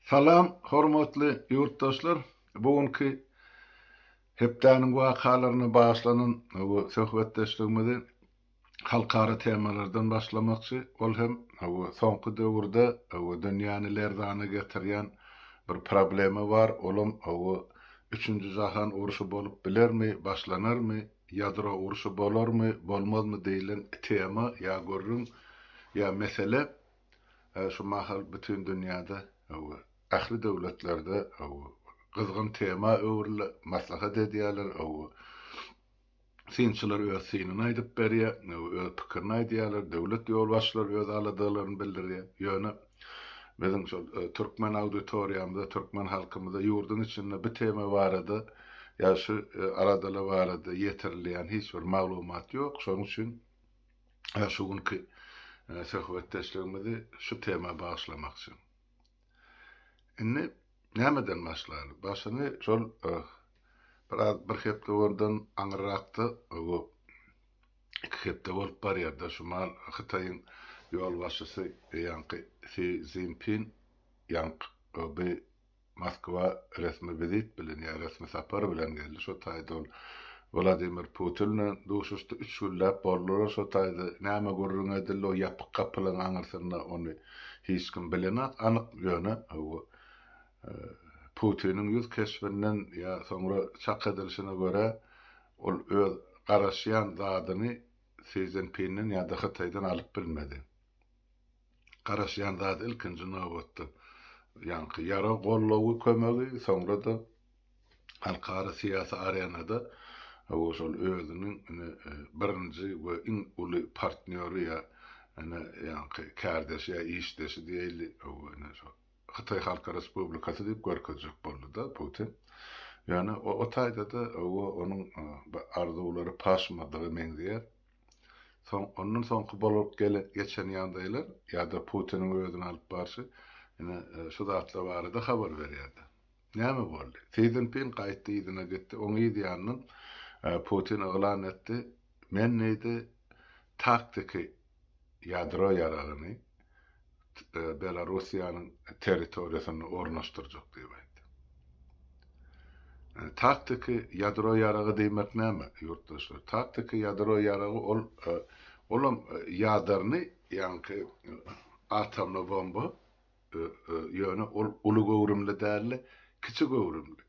Salam hormatly ýurtdaşlar bu günki hepdäniň wakalaryna bagyşlanan bu söhbetdeşligimizi halkara temalardan başlamakçy ol hem bu soňky döwürde bu dünýäni lerzana getirýän bir problema bar olam bu üçünji jahan urşy bolup bilermi başlanarmy ýadro urşy bolarmy bolmazmy diýlen tema ýa gürrüň ýa mesele Häzir şu mahal bütin dünýäde we ähli döwletlerde gyzgyn tema öwrüldi, maslahat edýärler, synçylar öz synyny aýdyp berýär, öz pikirini aýdýarlar, döwlet ýolbaşçylary öz aladalaryny bildirýär. Ýöne biziň şol türkmen auditoriýamyza, türkmen halkymyza ýurduň içinde bu tema barada ýa şu aladalar barada ýetirilýän hiç bir maglumat ýok. Şonuň üçin Hä, şu günki söhbetdeşligimizi şu tema bagyşlamakçy. Indi nämeden başlaýly? Başyny şol biraz bir hepde ondan aňyrrakda, bu iki hepde bolup barýar-da, şu mal Hytaýyň ýolbaşçysy ýaňky Si Szinpin ýaňky Moskwa resmi wizit bilen ýa resmi sapar bilen geldi. Şo taýda ol Wladimir Putin bilen duşuşdy. Üç günläp boldular şo taýda. Näme gürrüň edildi, o ýapyk gapylaryň aňyrsynda, ony hiç kim bilenok anyk. Ýöne bu Putiniň ýüz keşbinden ýa soňra çak edilişine görä, ol öz garaşýan zadyny Si Szinpinden ýa-da Hytaýdan alyp bilmedi. garaşýan zady ilkinji nobatda ýaňky ýarag goldawy, kömegi, soňra-da halkara syýasy arenada o şol özüniň ine birinji we iň uly partnýory ýa ine ýaňky kärdeşi ýa işdeşi diýeli ine şo Hytaý Halk Respublikasy diýip görkezjek boldy-da Putin. Ýöne o taýda-da onuň arzuwlary paşmadyga meňzeýär. Soň, ondan soňky bolup gelen, geçen ýagdaýlar ýa-da Putiniň özüni alyp barşy, ine, şu zatlar barada habar berýärdi. Näme boldy? Si Szinpin gaýtdy, yzyna gitdi. Oň yz ýanyndan Putin yglan etdi, Men, diýdi, taktiki ýadro ýaragyny, Belarussiýanyň territoriýasynda ornaşdyrjak diýip aýtdy. Taktiki ýadro ýaragy diýmek näme, ýurtdaşlar? Taktiki ýadro ýaragy ol olam ýadarny, ýagny atomly bomba, ýöne ol uly göwrümli däldi, kiçi göwrümli.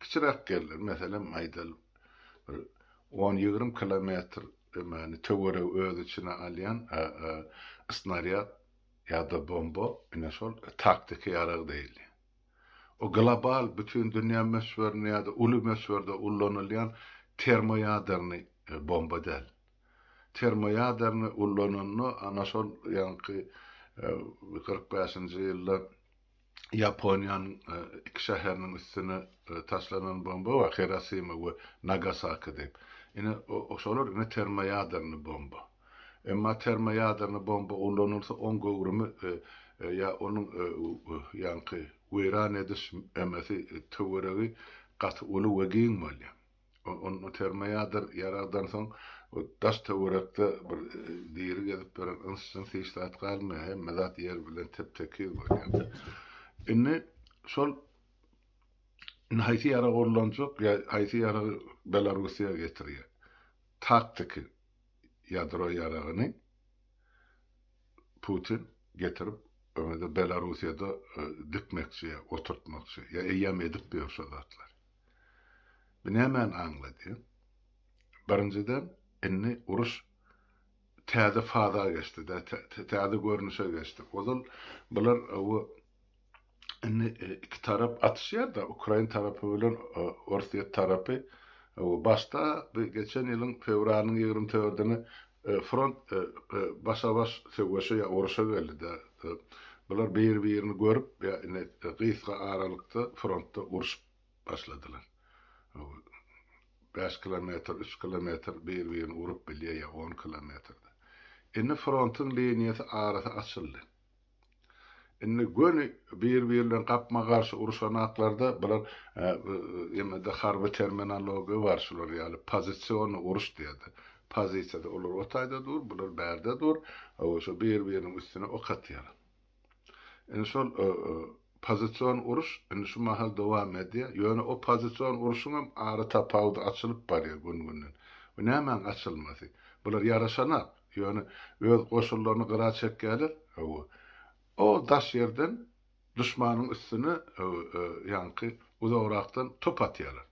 kiçiräk geldi. Meselem, aýdaly, bir on-ýigrimi kilometr dömäni töweregi öz içine alýan snarýad ýa-da bomba, ine, şol taktiki ýarag diýilýär. O global, bütin dünýä möçberinde ýa-da uly möçberde ullanylýan termoýaderny bomba däl. Termoýaderny ullananda, ana şol ýaňky kyrk bäşinji ýylda, Ýaponiýanyň iki şäheriniň üstüne taşlanan bomba bar, Hirosima we Nagasaki diýip. Ine, şolar indi termoýadernny bomba. Emma termoýadernny bomba ulanylsa, oň göwrümi ýa onuň ýaňky weýran ediş töweregi gaty uly we giň bolýar. Ony termoýadyr ýaragdan soň daş-töwerekde bir diri gezip ýören yns-jyns hiç zat galmaýar, hemme zat ýer bilen tep-tekiz bolýar. Indi şol Indi haýsy ýarag ullanjak, ýa haýsy ýaragy Belarusiýa getirýär? Taktiki ýadro ýaragyny Putin getirip öňe-de Belarusiýada e, dikmekçi ýa oturtmakçy ýa eýýäm edip ýör şo zatlary. Bu nämäni aňladýar? Birinjiden, indi uruş täze faza geçdi-de, täze görnüşe geçdi. Ozal bular bu indi iki tarap atyşýar-da, ukrain tarapy bilen orsýet tarapy. Başda geçen ýylyň fewralynyň ýigrimi dördüni Front başa-baş söweşe ýa uruşa geldi-dä. Bular bir-birini görüp ýa ine gysga aralykda frontda urşup başladylar. Bäş kilometr, üç kilometr bir-birini urup bilýär ýa on kilometr-de. Indi frontyň liniýasy arasy açyldy. Indi göni bir-biri bilen gapma-garşy uruşanaklarda bular ýene-de harby terminologiýa bar şular ýaly pozisionny uruş diýerdi. Pozisiýada olar o taýda dur, bular bärde dur, hawa şu bir-biriniň üstüne ok atýar. Indi şol pozision uruş indi şu mahal dowam edýär. Ýöne o pozision uruşyň hem ara tapawudy açylyp barýar gün-günden. Bu nämäň açylmasy? Bular ýaraşanak. Ýöne öz goşunlaryny gyra çekýärler, hawa, o daş ýerden duşmanyň üstüne, hawa, ýaňky uzagrakdan top atýarlar.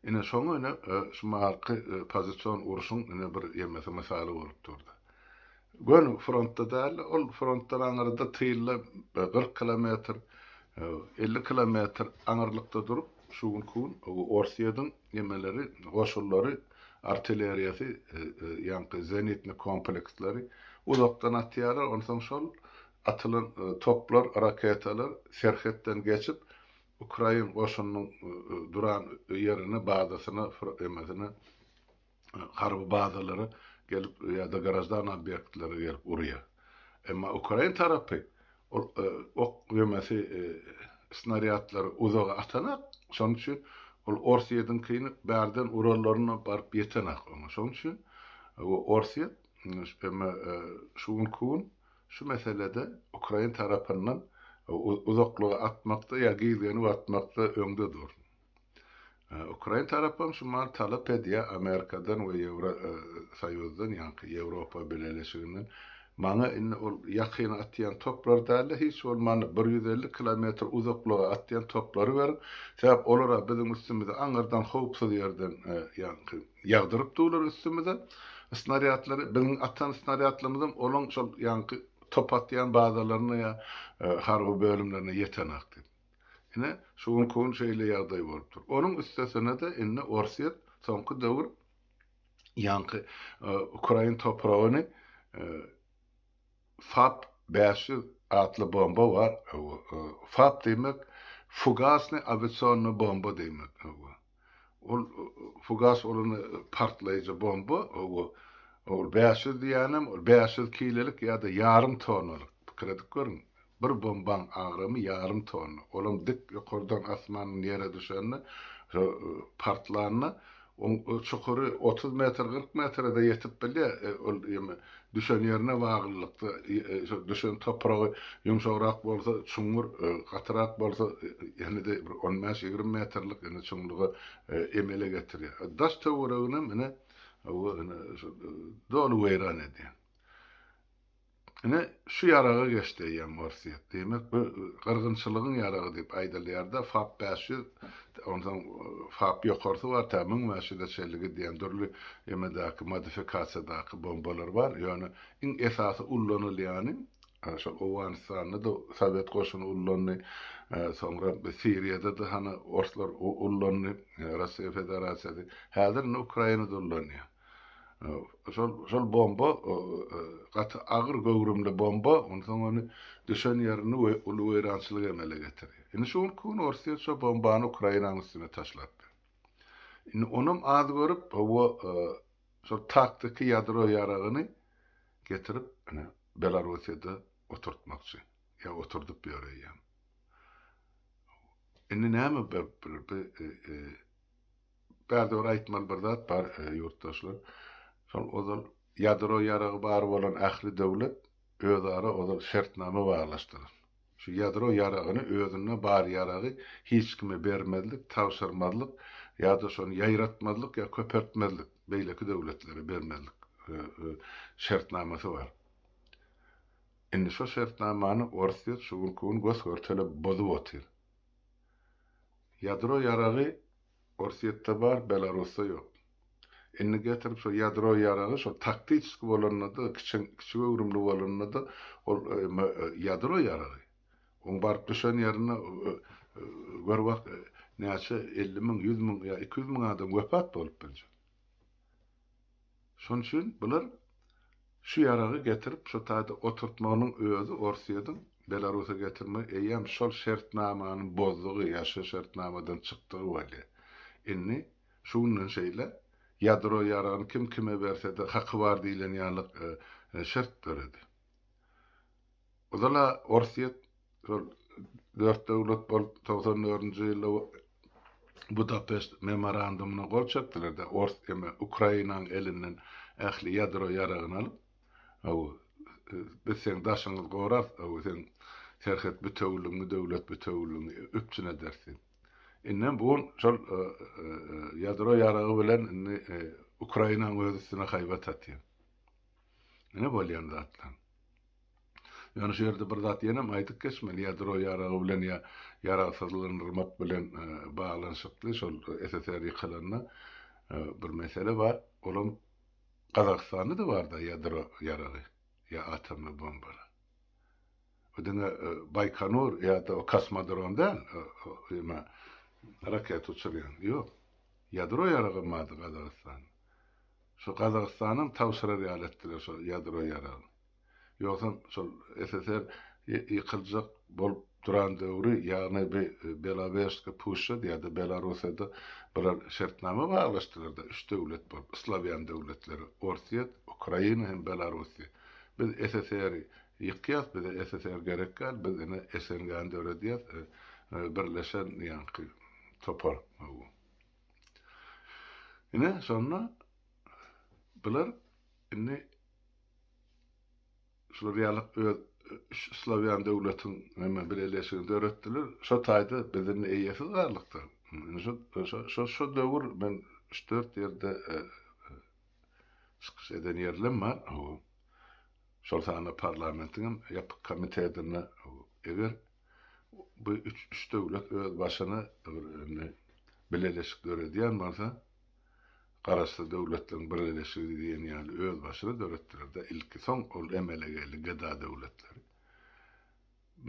Ine, şoňa ine şu mahalky pozision uruşyň ine bir ýemesi mysaly bolup dur-da. Göni frontda däl, ol frontdan aňyrda tylda kyrk kilometr, hawa, elli kilometr aňyrlykda durup, şu günki gün Orsýetiň Gemeleri, goşunlary, artilleriýasy, ýaňky zenitni kompleksleri uzakdan atýarlar, onsoň şol atylan toplar, raketalar serhetden geçip, ukrain goşunynyň duran ýerine, bazasyna, emesine, harby bazalara gelip ýa-da graždan obýektlere gelip urýar. Emma ukrain tarapy ol e, ok ýemesi e, snarýadlary uzaga atanak, şonuň üçin ol Orsýetiňkini bärden urarlaryna baryp ýetenak oňa. Şonuň üçin e, Orsýet emma şu gün gün şu meselede ukrain tarapyndan uzaklyga atmakda ýa gizlenip atmakda öňde dur. Ukrain tarapam şu maly talap edýär Amerikadan we Ýewro soýuzdan ýaňky Ýewropa bileleşiginden. Maňa indi ol ýakyna atýan toplar dälde hiç bolmanda bir ýüz elli kilometr uzaklyga atýan toplary beriň. Sebäp olara biziň üstümize aňyrdan howpsuz ýerden ýaňky ýagdyryp durlar üstümize snarýadlary. Biziň atan snarýadlarymyzam olaň şol ýaňky top atýan bazalaryna ýa harby bölümlerine ýetenakdy. Ine, şu günki gün şeýle ýagdaý bolupdyr. Onuň üstesine-de indi Orsýet soňky döwür ýaňky ukrain topragyny FAB bäş ýüz atly bomba bar. FAB diýmek, fugasny awiasionny bomba diýmek. Ol fugas bolan partlaýjy bomba, hawa, ol bäş ýüz diýýänem, ol bäş ýüz kilelik ýa-da ýarym tonnalyk, pikir edip görüň, bir bombaň agramy ýarym tonna, olam dik ýokardan asmandan ýere düşende, partlanda, oň çukury otuz metr, kyrk metre-de ýetip bilýär, ol ýene Düşen ýerine baglylykda, şo düşen topragy ýumşagrak bolsa, çuňňur, gatyrak bolsa, ýene-de bir on bäş, ýigrimi metrlik ýene çuňlugy emele getirýär. Daş-töwereginem ine, hawa, ine, şo doly weýran edýär. Ine, şu ýaraga geçdi eýýäm Orsýet. Diýmek, bu gyrgynçylygyň ýaragy diýip aýdylýar-da, Fab bäş ýüz. Onsoň FAB ýokarsy bar, tä müň bäş ýüze çenli gidýän dürli emedäki modifikasiýadaky bombalar bar. Ýöne iň esasy ullanylýany, şol Owganystanda-da sowet goşuny ullandy, soňra Siriýada-da hany orslar ullandy, Russiýa Federasiýasy, häzir indi Ukrainada ullanýar. Şol bomba gaty agyr göwrümli bomba, onsoň ony düşen ýerini uly weýrançylyk emele getirýär. Indi şu günki gün Orsýet şo bombany Ukrainanyň üstüne taşlapdyr. Indi onam az görüp, hawa, şol taktiki ýadro ýaragyny getirip, ine, Belarussiýada oturtmakçy. Ýa oturdyp ýöreýär. Indi näme Bärde bir aýtmaly bir zat bar, ýurtdaşlar. Şol ozal ýadro ýaragy bar bolan ähli döwlet özara ozal şertnama baglaşdylar. Şu ýadro ýaragyny, özünde bar ýaragy hiç kime bermezlik, tabşyrmazlyk ýa-da şony ýaýratmazlyk ýa köpeltmezlik, beýleki döwletlere bermezlik şertnamasy bar. Indi şo şertnamany orsýet şu günki gün gös-görtele bozup otyr. Ýadro ýaragy Orsýetde bar, Belarusda ýok. Indi getirip şo ýadro ýaragy şo taktiçeski bolanda-da, kiçeň kiçi göwrümli bolanda-da, ol ýadro ýaragy. Oň baryp düşen ýerinde gör bak, näçe elli müň, ýüz müň ýa iki ýüz müň adam wepat bolup biljek. Şonuň üçin bular şu ýaragy getirip şu taýda oturtmagynyň özi Orsýetiň Belarusa getirmegi eýýäm şol şertnamany bozdugy ýa şu şertnamadan çykdygy bolýar. Indi şu günden şeýle ýadro ýaragyny kim kime bersede haky bar diýilen ýaly şert döredi. Gyzyl-a Orsýet şol dört döwlet bolup togsan dördünji ýylda Budapeşt memorandumyna gol çekdiler-de, ors eme Ukrainanyň elinden ähli ýadro ýaragyny alyp, hawa, biz seň daşyňyzy gorarys, hawa, seň serhet bitewiligiňi, döwlet bitewiligiňi üpjün ederis diýip. Indem bu gün şol ýadro ýaragy bilen indi Ukrainanyň öz üstüne haýbat atýar. Ine bolýan zatlar. Ýöne şu ýerde bir zat ýenem aýdyp geçmeli, ýadro ýaragy bilen ýa ýaragsyzlanyrmak bilen baglanyşykly şol SSR ýykylanda bir mesele bar, olam Gazagystanda-da bar-da ýadro ýaragy ýa atomly bombalar. Bu diňe Baýkonur ýa-da o kosmodrom däl, ýa raketa uçurýan, ýok. Ýadro ýaragam bardy Gazagystanda. Şo Gazagystanam tabşyrar ýaly etdiler şo ýadro ýaragyny. Ýogsam şol SSR ýykyljak bolup duran döwri ýagny bi Belawerska puşşa diýýärdi Belarusiýada bular şertnama baglaşdylarda üç döwlet bolup islawýan döwletleri Orsýet, Ukraina hem Belarusiýa biz SSR-i ýykýas bize SSR gerek däl biz ine SNG-ni döredýäs birleşen ýaňky topar. Ine, şonda bular indi şular ýaly öz üç slowýan döwletiň hemme birleşigini döretdiler. Şo taýda biz indi eýesiz galdykdyr. Şo şo döwür men üç-dört ýerde e, çykyş eden ýerlem bar. Şol sanda parlamentiň hem ýapyk komitetinde eger Bu üç üç döwlet öz başyna bir indi bileleşik döredýän bolsa, Garaşsyz Döwletleriň Birleşigi diýen ýaly öz başyna döretdiler-de, ilki soň ol emele geldi GDA döwletleri.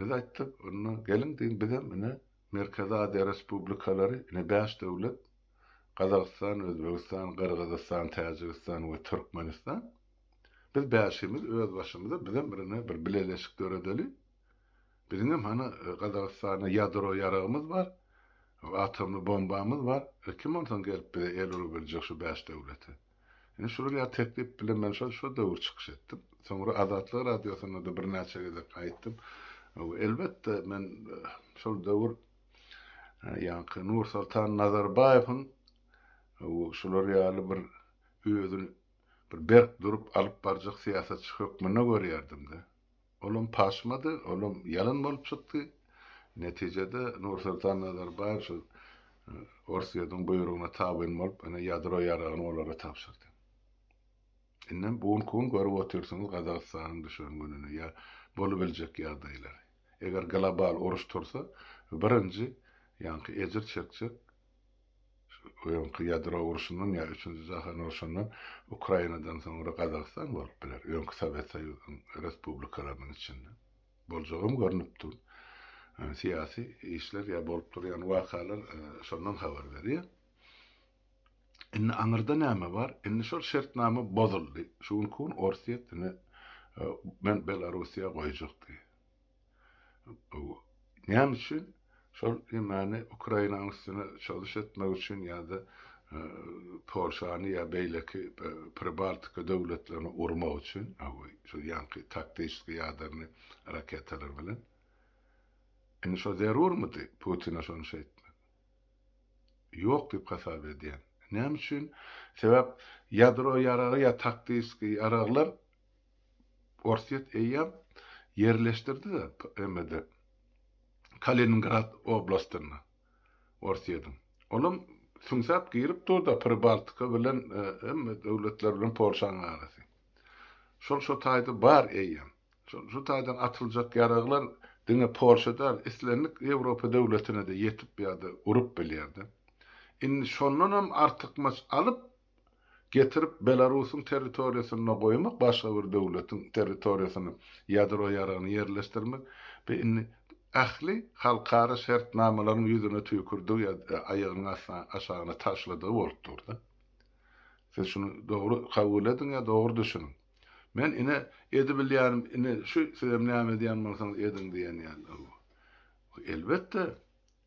Biz aýtdyk, onda geliň diýiň bizem ine Merkezi Aziýa respublikalary ine bäş döwlet, Gazagystan, Özbegistan, Gyrgyzystan, Täjigistan we Türkmenistan. Biz bäşimiz öz başymyza bizem bir ine bir bileleşik döredeli. Biziňem hany Gazagystana ýadro ýaragymyz bar, atomly bombamyz bar. Kim onsoň gelip bize el urup biljek şu bäş döwlete? Ine şular ýaly teklip bilen men şol şo döwür çykyş etdim. Soňra Azatlyk radiosynda-da birnäçe gezek aýtdym. Elbetde men şol döwür ýaňky Nursoltan Nazarbaýewiň şular ýaly bir özüni bir berk durup alyp barjak syýasatçy hökmünde görýärdim-de. Olam paşmady, olam ýalan bolup çykdy. Netijede Nursultan Nazarbaýew şu Orsýetiň buýrugyna tabyn bolup, ine ýadro ýaragyny olara tabşyrdy. Indem bu günki gün görüp otyrsyňyz Gazagystanyň düşen gününi ýa bolubiljek ýagdaýlary. Eger global uruş tursa, birinji ýaňky ejir çekjek Öňki ýadro urşundan ýa üçünji jahan urşundan Ukrainadan soňra Gazagystan bolup biler, öňki Sowet Soýuzynyň respublikalarynyň içinde. Boljagam görnüp dur. Syýasy işler ýa bolup durýan wakalar şondan habar berýär. Indi aňyrda näme bar? Indi şol şertnama bozuldy. Şu günki gün Orsýet indi men Belarussiýa goýjak diýýär. Näme üçin? Şol emani Ukrainanyň üstüne çalyş etmek üçin ýa-da Polşany ýa beýleki Pribaltika döwletlerini urmak üçin, şol ýaňky taktiçeskiý ýadarny raketalar bilen. Indi şo zerurmydy Putine şony şeýtmek? Ýok diýip hasap edýän. Näme üçin? Sebäp ýadro ýaragy ýa taktiçeskiý ýaraglar Orsýet eýýäm ýerleşdirdi-de emede, Kaliningrad oblastynda Orsýetiň. Olam süňsäp girip dur-da Pribaltika bilen hemme döwletler bilen Polşanyň arasy. Şol şo taýda bar eýýäm. Şol şu taýdan atyljak ýaraglar diňe Polşa däl, islendik Ýewropa döwletine-de ýetip ýa-da urup bilýär-de. Indi şondanam artykmaç alyp, getirip Belarusyň territoriýasynda goýmak, başga bir döwletiň territoriýasyna ýadro ýaragyny ýerleşdirmek bu indi ähli halkara şertnamalaryň ýüzüne tüýkürdigi ýa-da aýagynyň astyna aşagyna taşladygy bolup durdy. Siz şuny dogry kabul ediň ýa dogry düşüniň. Men ine edibilýänim ine şu sizem näme edýän bolsaňyz ediň diýen ýaly bu. Elbetde.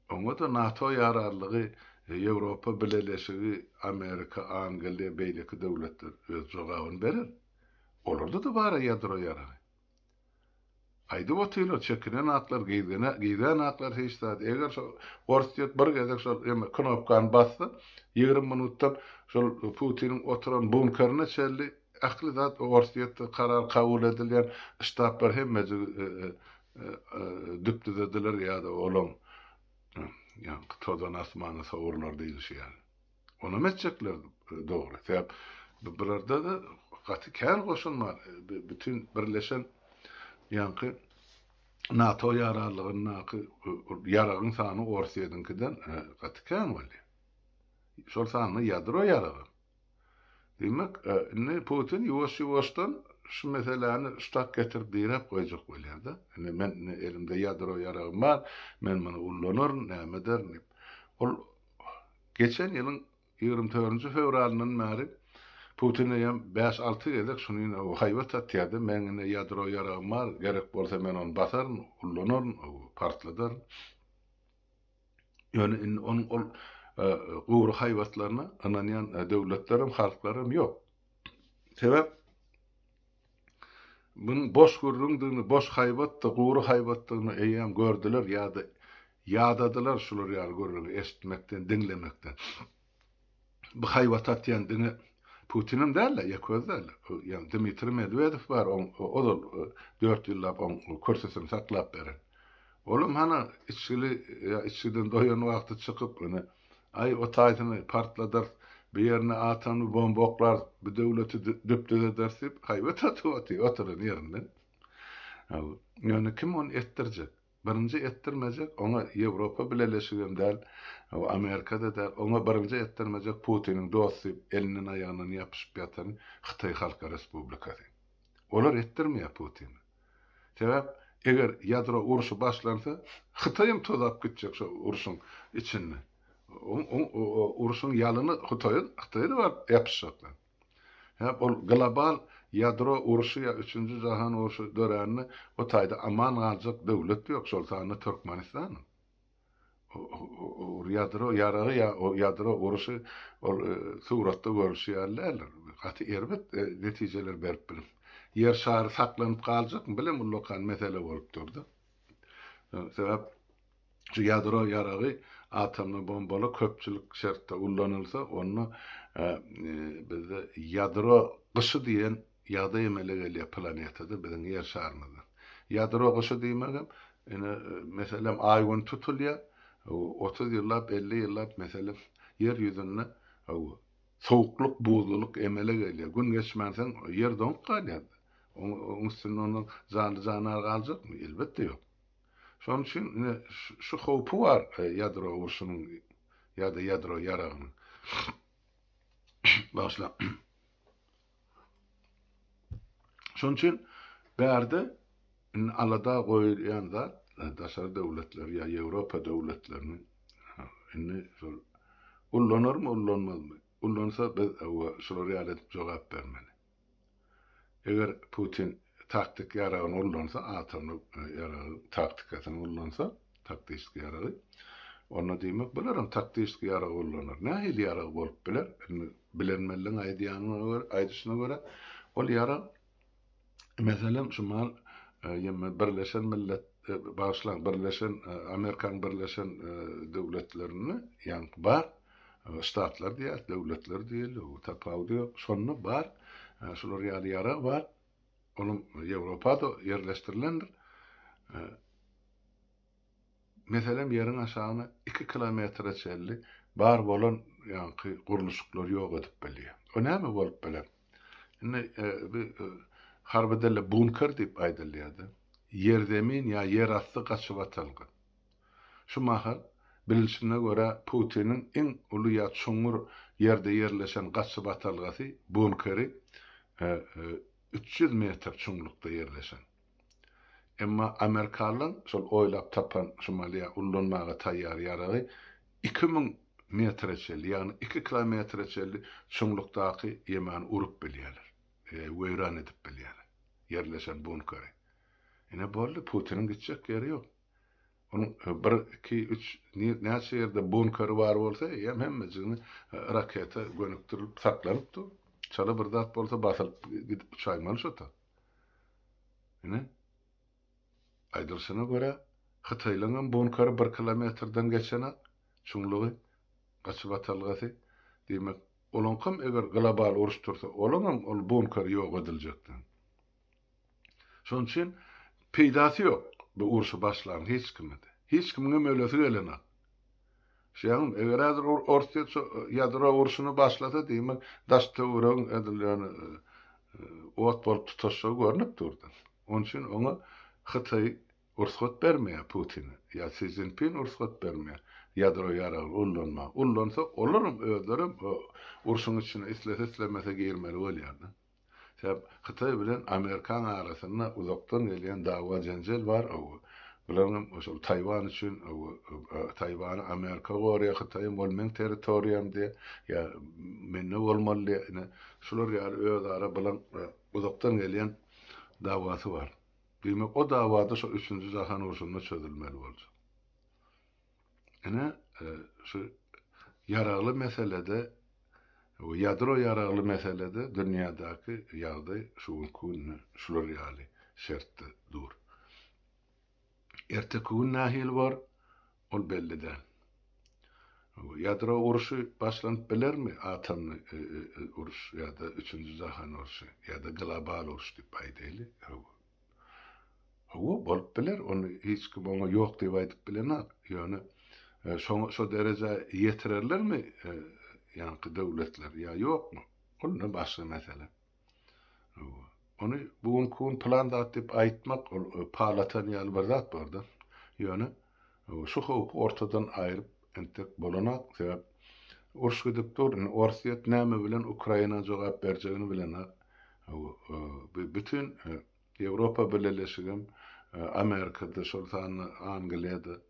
Oňa-da NATO ýararlygy, Ýewropa Bileleşigi, Amerika, Angliýa, beýleki döwletler öz jogabyny berer. Olarda-da bar-a ýadro ýaragy. Aýdyp otyrlar, çekinen aklar, gyzgana, gyzan aklar hiç zat. Eger şo ors diýip bir gezek şol eme knopkany bassa, ýigrimi minutdan şol Putiniň oturan bunkerine çenli Ähli zat Orsýetde karar kabul edilýän ştablar hemmejigi düpdüzediler ýa-da olaň ýaňky tozan asmana sowrular diýlişi ýaly. Onam etjekler dogry. Sebäp bularda-da gaty kän goşun bar. Bütin birleşen ýaňky NATO ýararlygyndaky ýaragyň sany Orsýediňkiden gaty kän bolýar. Şol sanda ýadro ýaragam. Diýmek, indi Putin ýuwaş-ýuwaşdan şu meseläni ştak getirip diräp goýjak bolýar-da. Indi men indi elimde ýadro ýaragym bar, men muny ullanaryn, näme ederin diýip. Ol geçen ýylyň ýigrimi törünji fewralyndan bäri Putin eýýäm bäş-alty gezek şuny haýbat atýar-da, meniň indi ýadro ýaragym bar, gerek bolsa men ony basaryn, ullanaryn, partladaryn. Ýöne indi onuň ol gury haýbatlaryna ynanýan döwletlerem, halklaram ýok. Sebäp Bunuň boş gürrüňdigini, boş haýbatdy, gury haýbatdygyny eýýäm gördüler ýa-da ýadadylar şular ýaly gürrüňi eşitmekden, diňlemekden. Bu haýbat atýan diňe Putinem däl-de, ýeke özi däl. Ýa Dmitriý Medwedew bar, oň ozal dört ýyllap oň kürsüsini saklap beren. Olam hany içgili ýa içgiden doýan wagty çykyp, ine, aý o taýsyny partladarys, bu ýerine atomly bomba oklarys, bu döwleti düp-düz ederis diýip haýbat atyp otyr, oturan ýerinden. Ýöne kim ony etdirjek? Birinji etdirmejek oňa Ýewropa bileleşigem däl, Amerikada däl, oňa birinji etdirmejek Putiniň dosty elinden aýagyndan ýapyşyp ýatan Hytaý Halk Respublikasy. Olar etdirmeýär Putine. Sebäp eger ýadro urşy başlansa Hytaýam tozap gitjek şo urşuň içinde. Oň urşuň ýalyny Hytaýa Hytaýa da baryp ýapyşjaklar. Hep ol global ýadro urşy ýa üçünji jahan urşy dörände o taýda aman galjak döwlet ýok, şol sanda Türkmenistan. Ol ýadro ýaragy ýa o ýadro urşy ol suratda görülşi ýaly däldir. Gaty erbet netijeler berip biler. Ýer şary saklanyp galjakmy? Bilemgullakan mesele bolup dur-da. Sebäp Şu ýadro ýaragy atomly bombaly köpçülik şertde ullanylsa, onda bizde ýadro gyşy diýen ýagdaý emele gelýär planetada, biziň Ýer şarymyzda. Ýadro gyşy diýmegem, ine, meselem, Aý Gün tutulýar, otuz ýyllap, elli ýyllap, meselem, Ýer ýüzünde sowuklyk, buzlulyk emele gelýär. Gün geçmänsoň, Ýer doňup galýar-da. Onuň üstünde onda janly-jandar galjakmy? Elbetde, ýok. Şonuň üçin ine şu howpy bar ýadro urşunyň ýa-da ýadro ýaragynyň. Bagyşlaň. Şonuň üçin bärde indi alada goýulýan zat daşary döwletler ýa Ýewropa döwletleriniň indi şol ullanarmy, ullanmazmy? Ullansa biz şular ýaly edip jogap bermeli. Eger Putin taktik ýaragyny ullansa, atomly ýaragyň taktikasyny ullansa, taktişski ýaragy, onda diýmek bularam taktişski ýaragy ullanar. Nähili ýarag bolup biler? Indi bilenmeliň aýdýanyna görä, aýdyşyna görä, ol ýarag, meselem, şumal ýeme Birleşen Millet, bagyşlaň, Birleşen, Amerikanyň Birleşen Döwletlerinde ýaňky bar, Ştatlar diýýäs, döwletler diýeli, o tapawudy ýok. Şonda bar, şular ýaly ýarag bar. Olam Ýewropada ýerleşdirilendir. Meselem, ýeriň aşagyna iki kilometre çenli bar bolan ýaňky gurluşyklary ýok edip bilýär. O näme bolup biler? Indi bi harby dilde bunker diýip aýdylýar-da. Ýerzemin ýa ýerasty gaçybatalga. Şu mahal, bilinşine görä, Putiniň iň uly ýa çuňňur ýerde ýerleşen gaçybatalgasy, bunkeri, üç ýüz metr çuňlukda ýerleşen. Emma amerikalylaryň şol oýlap tapan şu maly ýa ullanmaga taýýar ýaragy iki müň metre çenli, ýagny iki kilometre çenli çuňlukdaky ýemany urup bilýärler, weýran edip bilýärler, ýerleşen bunkeri. Ine, boldy, Putiniň gitjek ýeri ýok. Onuň bir, iki, üç, näçe ýerde bunkeri bar bolsa, eýýäm hemmejigini raketa gönükdirilip saklanip dur. Çala bir zat bolsa basylyp gidip uçaýmaly şota. Ine, aýdylşyna görä, hytaýlaryňam bunkeri bir kilometrden geçenak, çuňlugy, gaçyp atalgasy. Diýmek, olaňkam eger global uruş tursa, olaňam ol bunkeri ýok ediljekden. Şonuň üçin peýdasy ýok bu urşy başlan hiç kimede. Hiç kimiňem ölesi gelenok. Şeýdem, eger häzir Orsýet şu ýadro urşuny başlasa, diýmek, daş-töweregiň edil ýöne ot bolup tutaşjagy görnüp durdy. Onuň üçin oňa Hytaý rugsat bermeýär Putine ýa Si Szinpin rugsat bermeýär ýadro ýaragyny ullanmaga. Ullansa, olaram özlerem urşuň içine islese-islemese girmeli bolýar-da. Sebäp Hytaý bilen Amerikaň arasynda uzakdan gelýän dawa jenjel bar ow. Bularyňam şol Taýwan üçin ow. Taýwany Amerika gorýa Hytaýam ol meň territoriýam diýe. Ýa mende bolmaly diýe. Ine şular ýaly özara bulaň uzakdan gelýän dawasy bar. Diýmek o dawada şo üçünji jahan urşunda çözülmeli boljak. Ine, e, şu ýaragly meselede we ýadro ýaragly meselede dünýädäki ýagdaý şu günki günde şular ýaly şertde dur. Erteki gün nähili bar, ol belli däl. Ýadro urşy başlanyp bilermi? Atomly e, e, e, uruş ýa-da üçünji jahan urşy ýa-da global uruş diýip aýdaýly. Hawa, bolup biler, ony hiç kim oňa ýok diýip aýdyp bilenok. Ýöne şoňa şo derejä ýetirerlermi ýaňky döwletler ýa ýokmy? Ol indi başga mesele. Hawa. Ony bu günki gün plan zat diýip aýtmak, ol palatan ýaly bir zat bar-da. Ýöne Şu howpy ortadan aýryp entek bolanok, sebäp uruş gidip dur, indi Orsýet näme bilen Ukraina jogap berjegini bilenok, bu bütin Ýewropa Bileleşigem, Amerikada, şol sanda Angliýada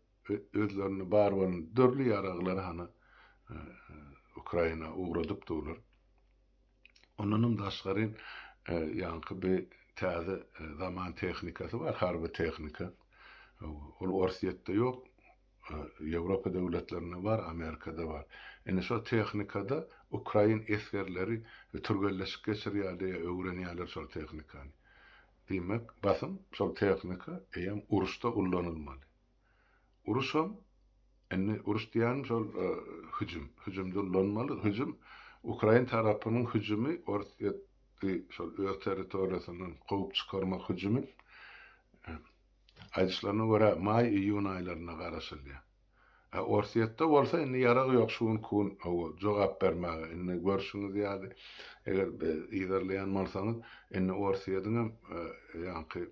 özlerinde bar bolan dürli ýaraglary hany Ukraina ugradyp durlar. Ondanam daşgary e, ýaňky bir täze e, zaman tehnikasy bar, harby tehnika. E, ol Orsýetde ýok, Ýewropa döwletlerinde bar, Amerikada bar. Indi şol tehnikada ukrain esgerleri türgenleşik geçirýärler, öwrenýärler şol tehnikany. Diýmek, basym şol tehnika eýem uruşda ullanylmaly. Uruşam, indi uruş diýýänim şol hüjüm, hüjüm dullanmaly, hüjüm ukrain tarapynyň hüjümi Orsýet di şol öz territoriýasyndan kowup çykarmak hüjümi aýdyşlaryna görä maý-iýun aýlarynda garaşylýar. A Orsýetde bolsa indi ýarag ýok şu gün kun hawa jogap bermäge indi görşüňiz ýaly eger yzarlaýan bolsaňyz indi Orsýediňem ýaňky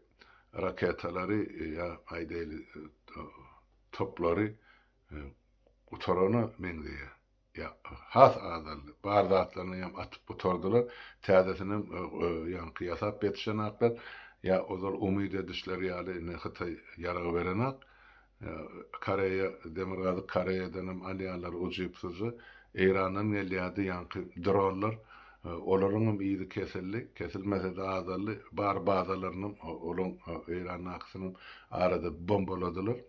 raketalary ýa aýdaýly toplary gutarana meňzeýär. Ýa has azaldy. Bar zatlaryny hem atyp gutardylar. Täzesinem ýaňky ýasap ýetişenaklar. Ýa ozal umyt edişleri ýaly indi Hytaý ýarag berenak. Koreýa, Demirgazyk Koreýadan hem alýarlar ujypsyzy. Eýrandan gelýärdi ýaňky dronlar. Olaryň hem yzy kesildi. Kesilmese-de azaldy. Bar bazalaryny hem olaň Eýrandakysyny hem arada bombaladylar.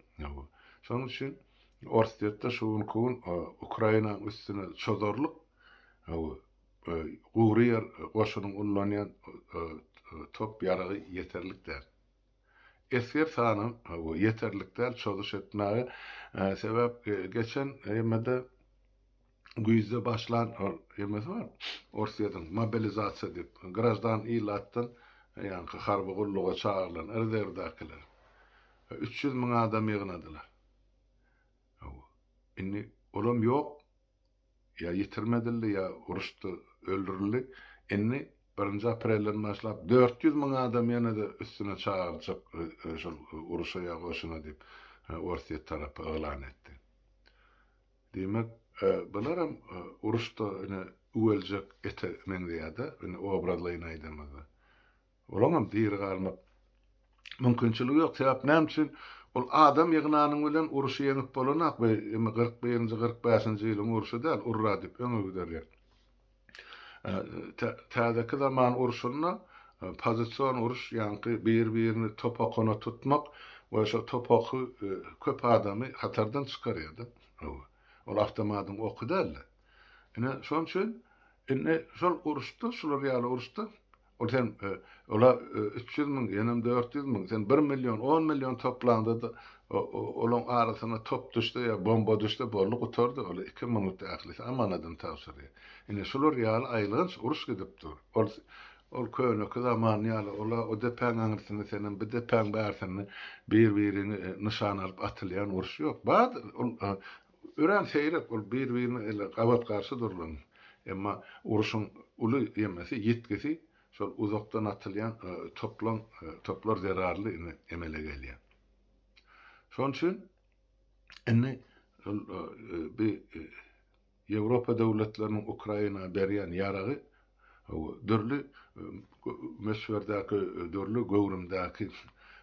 Şonuň üçin Orsýetde şu günki gün Ukrainanyň üstüne çozarlyk gury ýer goşunyň ullanýan top-ýaragy ýeterlik däl. Esger sany ýeterlik däl çozuş etmäge, sebäp geçen emede güýzde başlan emesi bar Orsýetiň mobilizasiýa diýip, graždan ilatdan ýaňky harby gulluga çagyrylan rezerwdäkiler üç ýüz müň adam ýygnadylar. Indi olam ýok, Ýa ýitirim edildi, ýa uruşda öldürildi. Indi birinji aprelden başlap dört ýüz müň adam ýene-de üstüne çagyrjak şol uruşa ýa goşuna diýip, Orsýet tarapy yglan etdi. Diýmek, bularam uruşda ine üweljek ete meňzeýär-de, indi obrazlaýyn aýdanymyzda. Olaňam diri galmak mümkinçiligi ýok, sebäp näme üçin? Ol adam ýygnanyň bilen uruşy ýeňip bolanok, bu indi kyrk birinji, kyrk bäşinji ýylyň urşy däl, urra diýip öňe giderler. Täzeki zaman urşunda pozision uruş, ýaňky bir-birini topakona tutmak we şo topaky köp adamy hatardan çykarýar-da. Ol awtomatyň oky däl-de. Ine, şonuň üçin indi şol uruşda, şular ýaly uruşda Ol sen ola üç ýüz müň, ýenem dört ýüz müň, sen bir million, on million toplaňda-da, olaň arasyna top düşse ýa bomba düşse, boldy, gutardy. Ol iki minut ählisi amanadyny tabşyrýar. Ine, şular ýaly aýylganç uruş gidip dur. Ol ol köneki zaman ýaly, ola o depäň aňyrsynda, senem bu depäň bärsinde bir-biriňi nyşana alyp atylýan uruş ýok. Bardyr, ol Örän seýrek bolup bir-birine ele gabat-garşy durulan, emma uruşyň uly ýemesi, ýitgisi şol uzakdan atylýan toplaň toplar zerarly indi emele gelýär. Şonuň üçin indi bi Ýewropa döwletleriniň Ukraina berýän ýaragy Dürli möçberdäki, dürli göwrümdäki,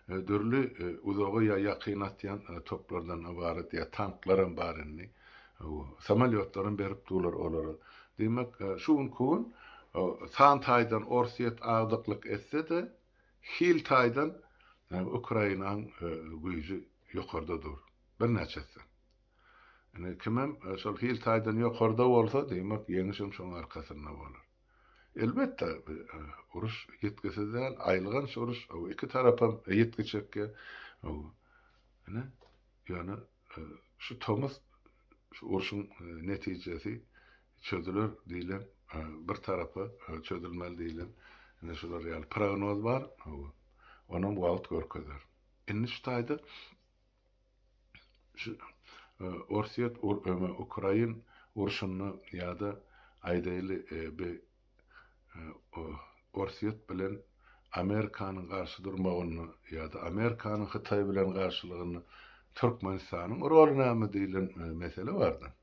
dürli uzaga ýa ýakyna atýan toplardan ybarat ýa tanklaram bar indi. Samolýotlaram berip durlar olara. Diýmek, şu günki gün san taýdan Orsýet agdyklyk etse-de, hil taýdan Ukrainanyň güýji ýokarda dur. Birnäçe esse. Ine, kimem şol hil taýdan ýokarda bolsa, diýmek, ýeňişem şoň arkasynda bolar. Elbetde, uruş ýetgisiz däl, aýylganç uruş, o iki tarapam ýitgi çekýär. Ine, ýöne şu tomus şu urşuň netijesi çözüler diýlen, bir tarapa çözülmeli diýlen, ine, şular ýaly prognoz bar. Onam wagt görkezer. Indi şu taýda Orsýet Ukrain urşunda ýa-da aýdaýly bi Orsýet bilen Amerikanyň garşy durmagynda ýa-da Amerikanyň Hytaý bilen garşylygynda Türkmenistanyň roly näme diýlen mesele bar-da.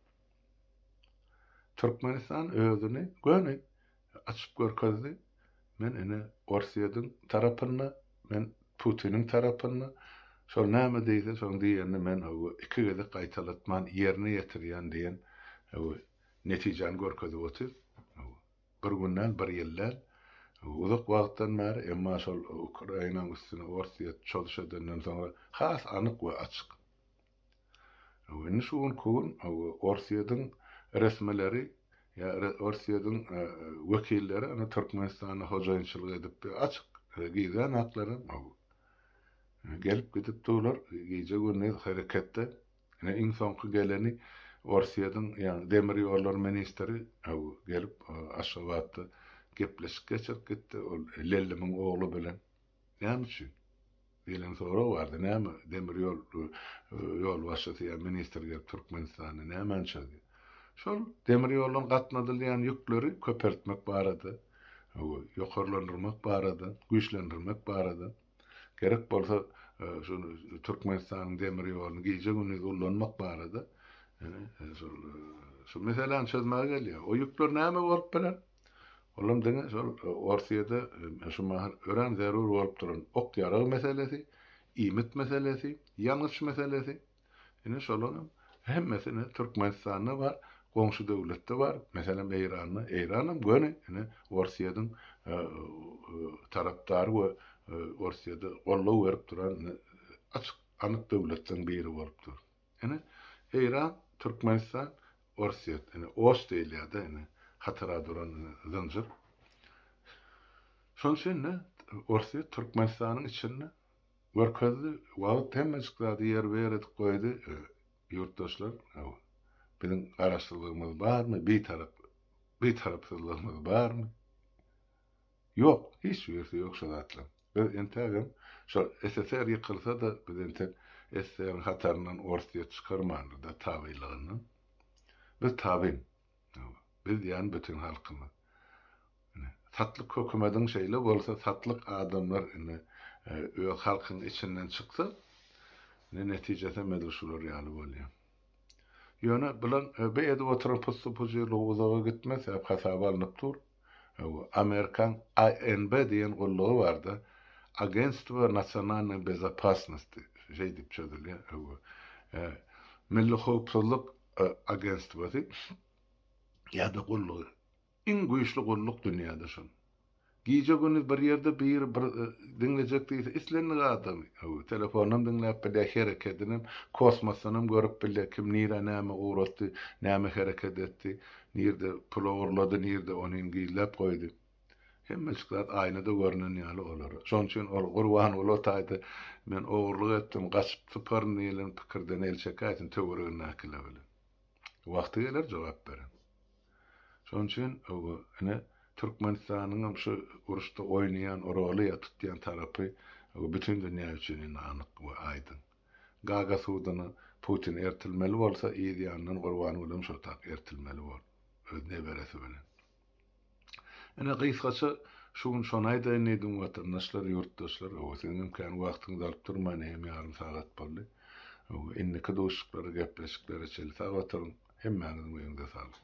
Türkmenistan özüni göni açyp görkezdi. Men ine Orsýediň tarapynda, men Putiniň tarapynda, şol näme diýse şoň diýenini men hawa iki gezek gaýtalatman ýerine ýetirýän diýen hawa netijäni görkezip otyr. Hawa bir gün däl, bir ýyl däl, hawa uzak wagtdan bäri, emma şol Ukrainanyň üstüne Orsýet çozşy edenden soňra has anyk we açyk. Öwrenýän şu gün ku gün Orsýetiň resmileri ýa Orsýetiň wekilleri ony Türkmenistanda hojaýynçylyk edip açyk gizlän haklarym bu. Gelip gidip durlar gije gündiz hereketde. Ine iň soňky geleni Orsýetiň ýagny demir ýollar ministri bu gelip Aşgabatda gepleşik geçirip gitdi ol Lellimiň ogly bilen. Näme üçin? Diýlen sorag bardy. Näme, demir ýol ýolbaşçysy ýa ministr gelip Türkmenistanda nämançy diýip. Şol demir ýoldan gatnadylýan ýükleri köpeltmek barada, ýokarlandyrmak barada, güýçlendirmek barada, gerek bolsa şu Türkmenistanyň demir ýoluny gije-gündiz ullanmak barada, ýöne şol şu meseläni çözmäge gelýär. O ýükler näme bolup biler? Olam diňe şol Orsyýede şu mahal örän zerur bolup duran ok-ýarag meselesi, iýmit meselesi, ýangyç meselesi. Ine şolaryň hemmesine Türkmenistanda bar, goňşy döwletde bar, meselem Eýranda. Eýranam göni ine Orsyýediň tarapdary we Orsyýede goldaw berip duran açyk anyk döwletleň biri bolup dur. Ine, Eýran, Türkmenistan, Orsýet, ine, Oş diýilýär-de, ine, hatyra duran zynjyr. Şonuň üçin-de, Orsýet Türkmenistanyň içinde görkezdi, wagt hemmejik zady ýerbi-ýer edip goýdy, ýurtdaşlar, hawa, biziň garaşsyzlygymyz barmy, bitarap, bitarapsyzlygymyz barmy? Ýok, hiç birisi ýok şo zatlaň. Biz entägem şol SSR ýykylsa-da biz entek SSR-iň hataryndan Orsýet çykarmandyr-da tabynlygyndan. Biz tabyn. Hawa. Biz diýýän bütin halkymyz. Ine, satlyk hökümediň şeýle bolsa satlyk adamlar indi öz halkyň içinden çyksa, ine netijesem edil şular ýaly bolýar. Ýöne bulan be edip oturan pussy-pujyrlygy uzaga gitmez, sebäp hasaba alnyp dur. Hawa, Amerikaň ANB diýen gullugy barda, Agentstwo nasionalnoý bezopasnosti, şeý diýip çözülýär, hawa, e, Milli howpsuzlyk agentstwosy ýa-da gullugy. Iň güýçli gulluk dünýäde şol. Gije-gündiz bir ýerde biri bir diňlejek diýse, islendik adamy, hawa, telefondan diňläp bilýär, herekedinem, kosmosdanam görüp bilýär, kim nirä näme ugratdy, näme hereket etdi. Nirede pul ogurlady, nirede onin gizläp goýdy. Hemmeçik zat aýnada görnen ýaly olara. Şonuň üçin ol Gurbanguly o taýda men ogurlyk etdim, gaçyp syparyn diýlen pikirden el çekäýsin töweregindäkiler bilen. Wagty geler jogap berer. Şonuň üçin oba ine Türkmenistanyňam şu uruşda oýnaýan roly ýa tutýan tarapy oba bütin dünýä üçin indi anyk we aýdyň. Gaga suduny Putin ertilmeli bolsa yz ýanyndan Gurbangulyň şotap ertilmeli bol öz neberesi bilen. Ine gysgaça şu gün şony aýdaýyn diýdim watandaşlar ýurtdaşlar owo siziňem kän wagtyňyzy alyp durmaýyn egem ýarym sagat boldy. Owo indiki duşuklary gepleşiklere çenli sag oturyň hemmäňiziň öýüňize saglyk.